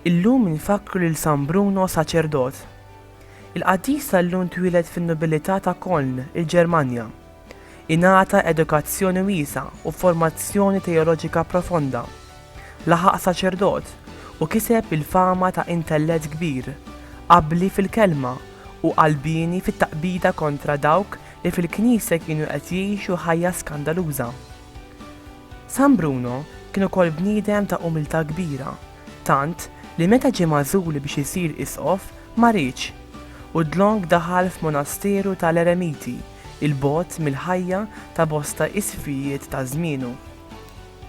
Illum infakkru lil San Bruno saċerdot. Il-qaddis tal-lum twieled fin-nobilità ta' Koln, il-Ġermanja. Ingħata edukazzjoni wiesgħa u formazzjoni teoloġika profonda. Laħaq saċerdot u kiseb il-fama ta' intellett kbir, abbli fil-kelma u qalbieni fit-taqbida kontra dawk li fil-Knisja kienu qed jgħixu ħajja skandaluża. San Bruno kien ukoll bniedem ta' umiltà kbira, tant li meta ġie magħżul biex isir isqof ma riedx, u dlonk daħal f'monasteru ta' l-eremiti. 'il bogħod mill-ħajja ta' bosta isfijiet ta' żmienu.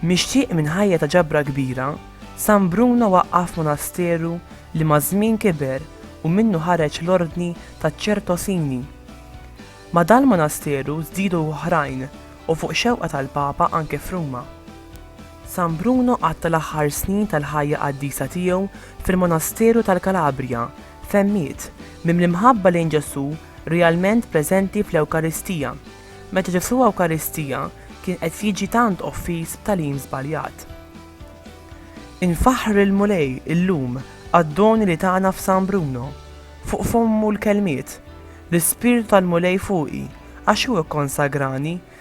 Mixtieq minn ħajja ta' ġabra kbira, San Bruno waqqaf monasteru li maż-żmien kiber u minnu ħareġ l-Ordni taċ-Ċertosini. Ma' dal-monasteru żdiedu oħrajn u fuq xewqa tal-Papa anke f'Ruma. San Bruno qatta' l-aħħar snin tal-ħajja qaddisa tiegħu fil-monasteru tal-Kalabrija, Fehmiet, Mimli mħabba lejn Ġesù realment preżenti fl-Ewkaristija. Meta Ġesù Ewkaristija kien qed jiġi tant offiż b'tagħlim żbaljat. Infaħħru lill-Mulej illum għad-doni li tana f'San Bruno. Fuq fommu l-kelmiet, L-Ispirtu tal-Mulej fuqi, għax hu kkonsagrani